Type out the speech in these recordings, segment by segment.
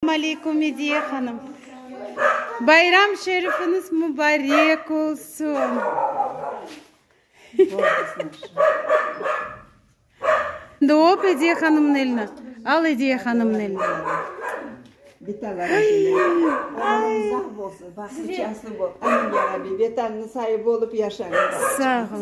Salam aleykum, Ediye hanım! Bayram şerifiniz mubarek olsun! Şimdi öp Ediye hanımnıñ elini. Al Ediye hanımnıñ elini. Sağ olun.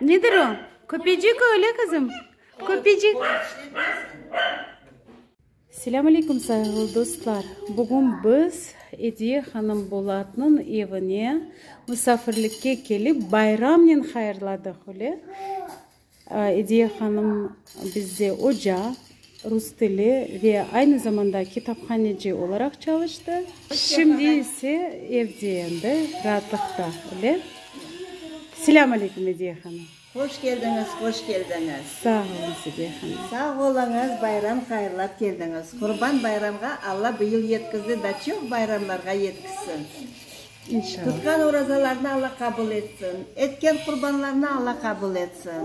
Nedir o? Köpecik öyle kızım. Köpecik. Selam aleyküm sayılı dostlar. Bugün biz Ediye Hanım Bolatnın evine misafirlikke kelip bayramnen hayırladıq öyle. Ediye hanım bizde oca, rus tili ve aynı zamanda kitaphaneci olaraq çalıştı. Şimdi ise evde endi, raatlıqta öyle. Selâm aleyküm, Ediye hanım! Hoş keldiñiz, hoş keldiñiz! Sağ oluñız, Ediye hanım! Sağ oluñız, bayram hayırlap keldiñiz! Qurban bayramğa Alla bu yıl yetkizdi da çoq bayramlarğa yetkizsin! Tutqan orazalarnı Alla qabul etsin, etken qurbanlarnı Alla qabul etsin.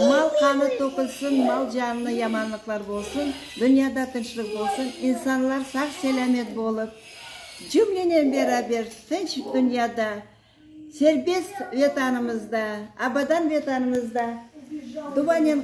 Mal qanı tökülsin, mal canına yamanlıqlar bolsun, dünyada tınçlıq bolsun, insanlar sağ-selâmet bolıp, cümlenen beraber tınç dünyada, serbest Vetanımızda, abadan Vetanımızda duvanen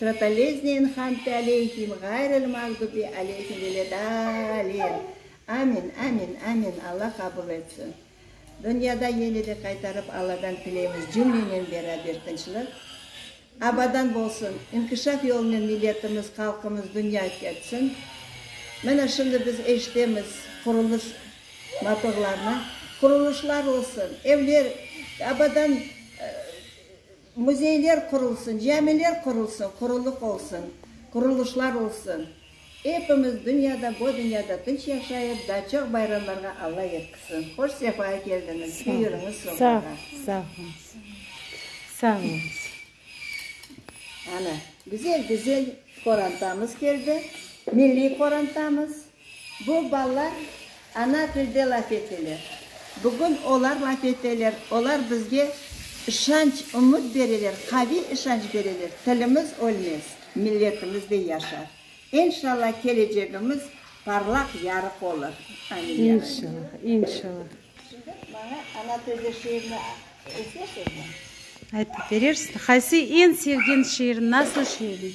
Trataleznein hamdü aleyhim, ğayril mağdubi aleyhim veledalin. Amin, amin, amin, Alla qabul etsin. Dünyada yene de qaytarıp Alladan tileymiz cümlenen beraber tınçlıq. Abadan bolsun, inkişaf yolunen milletimiz, halqımız dünya ketsin. Mine şimdi biz eşitemiz qurulış motorlarını. Qurulışlar olsun, evler abadan. Müzeyler qurulsın, camiler qurulsın, qurulıq olsun, qurulışlar olsun. Epimiz dünyada, bu dünyada tınç yaşayıp, daa çoq bayramlarğa Alla yetkisin. Hoş sefaya keldiñiz, büyüriñiz soñrağa. Sağ olunız, sağ olunız, sağ olunız. Ana, güzel-güzel qorantamız keldi, milliy qorantamız. Bu balalar ana tilde laf eteler. Bugün olar laf eteler, olar bizge işanç, ümüt bereler, qaviy işanç bereler, tilimiz ölmez, milletimiz de yaşar. İnşallah kelecegimiz parlaq, yarıq olur. Amin, ya Rabbi. İnşallah, inşallah. Şimdi maña ana tilde şiirni esesizmi? Aytıp berersiz. Qaysı eñ sevgen şiir, nasıl şiir?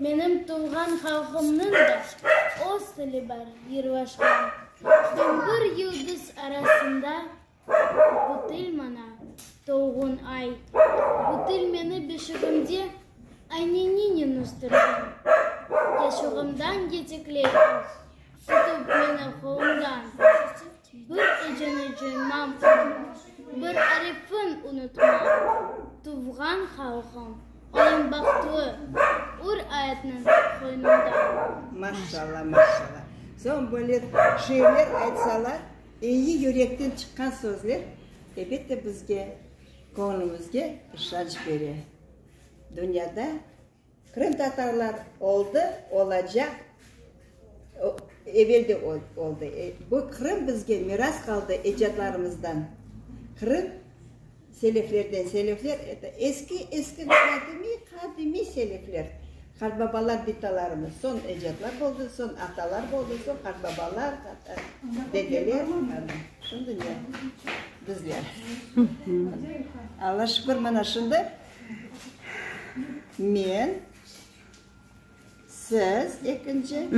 Menim tuvğan halqımnıñ da öz tili bar, yırvaşkan. Bin bir yıldız arasında bu til maña, tuvğun ay. Bu til meni beşigimde Ayneninen östürgen. Yaşuğımdan yetikley o, tutıp meni qolumdan. Bir eceni coymam qızım, bir arifin unutmam. Tuvğan halqım, ayım bahtlı, ur ayetniñ qoynunda. Maşalla, maşalla. Soñ böyle şiirler aytsalar, eyi yürekten çıqqan sözler, elbette, bizge, köñlümizge işanç bere. Dünyada. Qırımtatarlar oldı, olacaq, evel de oldı. Bu Qırım bizge miras qaldı ecdadlarımızdan. Qırım seleflerden, selefler, eski, eski qadimiy, qadimiy selefler, qartbabalar bitalarımız, soñ ecdadlar oldı, soñ atalar oldı, soñ qartbabalar, dedeler, şimdi ne, bizler. Alla şükür, mana şimdi. Men, siz ekinci.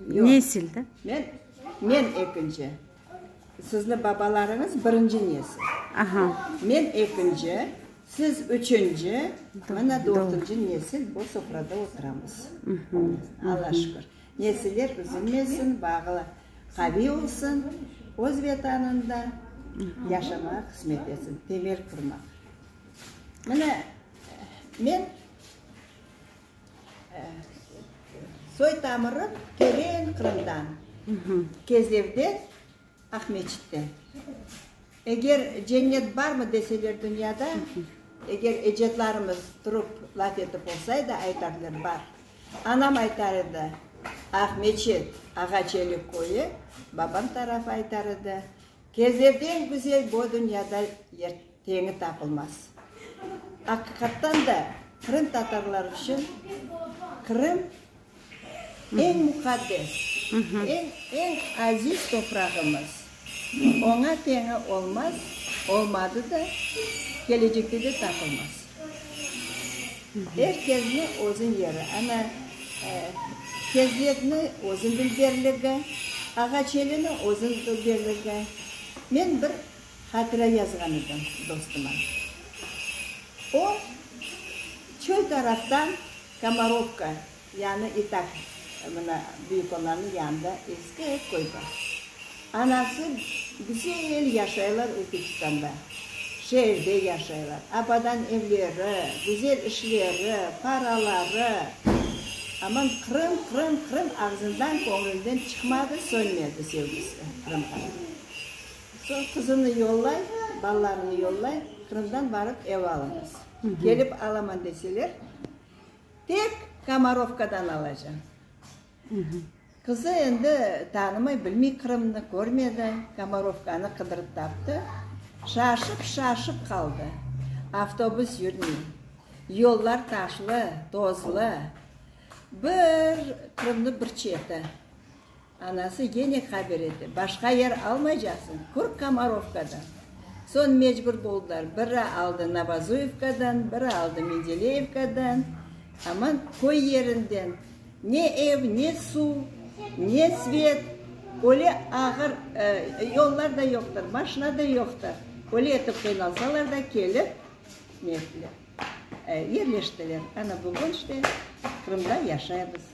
Nesil de. Men, men ekinci. Sizni babalarıñız birinci nesil. Aha. Men ekinci, siz üçünci, mına dörtünci nesil bu sofrada oturamız. Alla şükür. Nesiller üzülmesin, bağlı qaviy olsun, öz Vetanında yaşamağa qısmet etsin, temel qurmaq. Mine, men soy-tamırım teren Qırımdan, Kezlevden, Aqmescitten. Eger cennet barmı deseler dünyada, eger ecedlarımız turıp laf etip olsaydı, aytardılar, bar. Anam aytar edi, Aqmescit, Ağaçelik köyü, babam tarafı aytar edi, Kezlevden güzel bu dünyada yer Teñi tapılmaz. Aqiqattan da, qırımtatarlar içün Qırım, eñ muqaddes, eñ aziz toprağımız. Oña teñi olmaz, olmadı da, kelecekte de tapılmaz. Er kesni özün yeri, ana, kezletni özün bildirligi, Ağaçelini özün bildirligi. Men bir Hatira yazğan edim dostuma. O, çöl taraftan Komorovka, yani İtak, mına büyük olanı yanında eski ev köy bar. Anası güzel yaşaylar Özbekistanda, şeerde yaşaylar, abadan evleri, güzel işleri, paraları. Aman Qırım, Qırım, Qırım ağzından, köñlünden çıqmadı, sönmedi sevgisi Qırımğa. Soñ qızını yollay, balalarını yollay, Qırımdan barıp ev alıñız. Kelip alaman deseler, tek Komorovkadan alacam. Qızı endi tanımay, bilmey Qırımnı, körmedi, Komorovkanı qıdırıp taptı. Şaşıp, şaşıp qaldı. Avtobus yürmey, yollar taşlı, tozlı. Bir Qırımnıñ bir çeti. Anası gene haber ete, başqa yer almaycaqsıñ, kür Komorovkadan. Soñ mecbur boldılar, biri aldı Novozuyevkadan, biri aldı Mendeleyevkadan. Aman köy yerinden ne ev, ne suv, ne svet, öyle ağır, yollar da yoqtır, maşina da yoqtır. Öyle etip qıynalsalar da kelip ne ettiler, yerleştiler. Ana bugün işte Qırımda yaşaymız.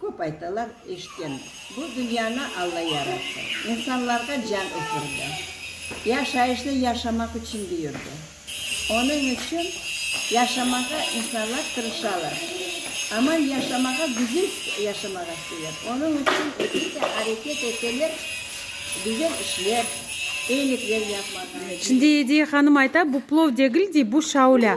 Köp aytalar, eşitkenmiz, bu dünyanı Alla yarattı, insanlarğa can üfürdi, yaşayışnı yaşamaq içün büyürdi. Onıñ içün yaşamağa insanlar tırışalar. Aman yaşamağa, güzel yaşamağa isteyler. Onıñ içün elbette areket eteler, güzel işler, eyilikler yapmağa. Şimdi Ediye hanım ayta, bu plov degil, dey, bu şaulâ.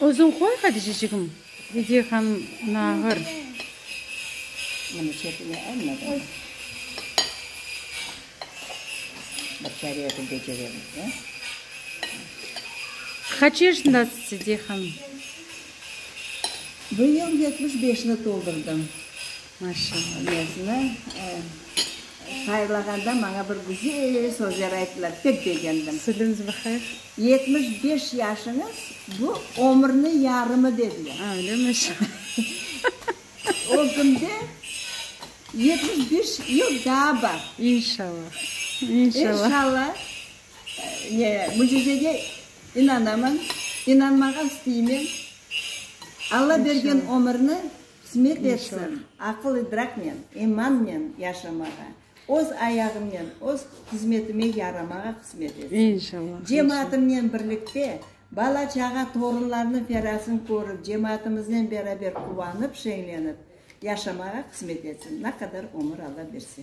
Özüñ qoy, Hadicecigim, dedi hanım ona ağır. Qaç yaşındasız? dedi hanım. Bu yıl yetmiş beşni toldurdım. Maşallah, mezni tayarlağanda maña bir güzel sözler ayttılar, pek begendim. Sülüñiz bahayır. Yetmiş beş yaşıñız, bu, ömürniñ yarımı, dediler. A, öyle mi? O künde yetmiş beş yıl daa bar. İnşallah, inşallah. İnşallah, ne, mücizege inanamın, inanmağa isteymen. Alla bergen ömürni Hısmet etsin, aqıl-idraknen, imannen yaşamağa, öz ayağımnen, öz hızmetime yaramağa hısmet etsin. Cemaatimnen birlikte, bala-çağa, torunlarnıñ ferasın körip, cemaatımıznen beraber quvanıp, şeñlenip yaşamağa hısmet etsin, ne qadar ömür Alla berse.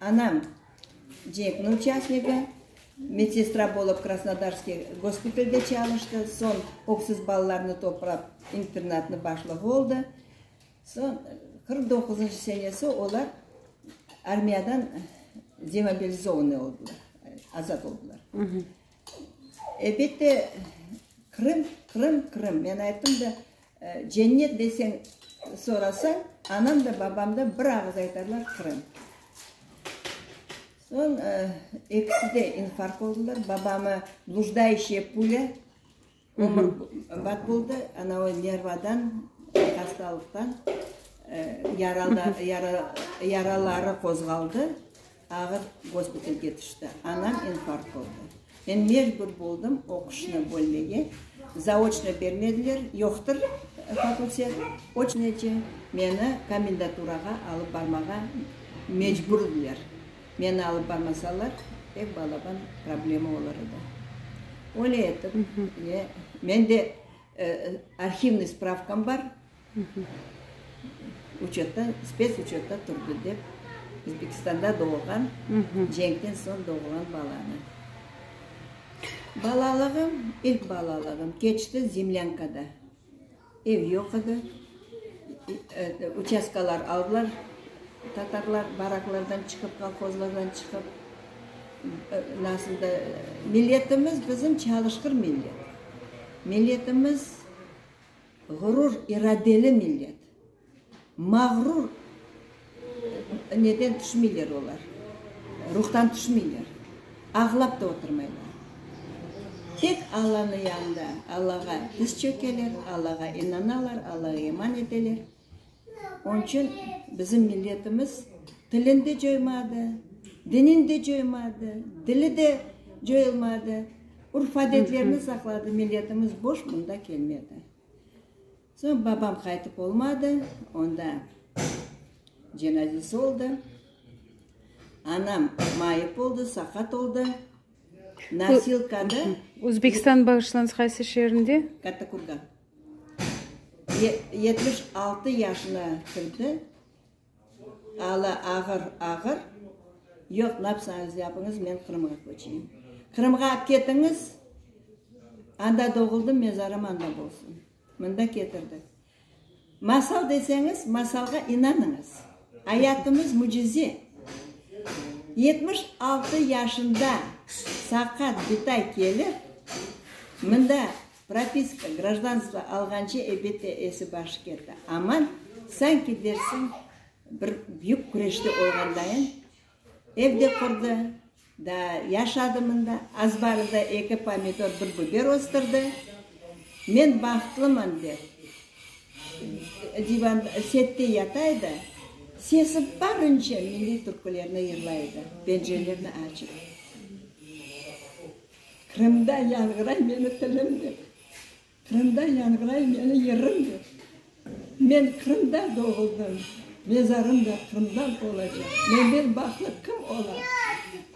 Anam, cenkniñ uçastnigi, medsestra bolıp Krasnodarskiy gospitalde çalıştı, soñ öksüz balalarnı toplap internatnıñ başlığı oldı. Soñ qırq doquzıncı senesi olar armiyadan demobilizovannıy oldılar, azat oldılar. Elbette, Qırım, Qırım, Qırım. Men ayttım da. Cennet deseñ sorasañ, anam da, babam da bir ağız aytarlar, Qırım. Soñ ekisi de infarkt oldılar. Babamı blujdayshiye pulya ömür bat boldı, anavı nervadan, hastalıqtan yaraları qozğaldı. Ağır gospitalge tüşti. Anam infarkt oldı. Men mecbur boldım oquşnı bölmege. Zaoçnıy bermediler, yoqtır fakultet. Oçnıy içün meni komendaturağa alıp barmağa mecbur ediler. Meni alıp barmasalar, tek balaban problema olar edi. Öyle etip, men de arhivniy spravkam bar, Uçotta, spets uçotta turdı, dep, Özbekistanda doğulğan, cenkten soñ doğulğan balanı. Balalığım, ilk balalığım keçti zemlânkada. Ev yoq edi, uçastkalar aldılar tatarlar, baraklardan çıqıp, kolhozlardan çıqıp. Nasıl da, milletimiz bizim çalışqır millet. Milletimiz. Ğurur iradeli millet. Mağrur neden tüşmeyler olar, ruhtan tüşmeyler, ağlap da oturmaylar. Tek Allanıñ yanında Allağa diz çökeler, Allağa inanalar, Allağa iman eteler. Onçün bizim milletimiz tilin de coymadı, dinin de coymadı, dili de coyulmadı, urf-adetlerini saqladı, milletimiz boş bunda kelmedi. Soñ babam qaytıp olmadı, onda cenazesi oldı. Anam mayıp oldı, saqat oldı, nosilkada. Özbekistan, bağışlanıñ, qaysı şeerinde? Kattakurgan. Yetmiş altı yaşına kirdi, alı ağır, ağır. Yoq, napsañız yapıñız, men Qırımğa köçeyim. Qırımğa ketiñiz, anda doğuldım, mezarım anda bolsun. Mında ketirdi. Masal deseñiz, masalğa inanıñız. Ayatımız mücize. Yetmiş altı yaşında saqat, bitay kelip, mında Propiska, grajdanstvo alğance ebette esi başı kete, amma sanki dersiñ bir büyük küreşte olğandayın, ev de qurdı, daa yaşadı mında, azbarı da eki pomidor, bir biber östürdi. Men bahtlıman dep divan, sette yata edi, sesi barınca milliy türkülerni yırlay edi, pencerelerni açıp. Qırımda yanğıray meni tilim dep, Qırımda yanğıray meni yırım dep, Men Qırımda doğuldım, mezarım da Qırımda olacaq, Menden bahlı kim ola?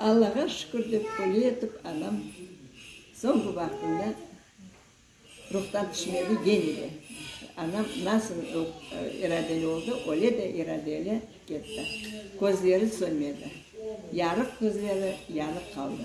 Allağa şükür dep böyle etip anam soñki vaqtında ruhtan tüşmedi, gene de anam nasıl iradeli oldı, öyle de iradeli ketti. Közleri sönmedi, yarıq közleri yanıq qaldı.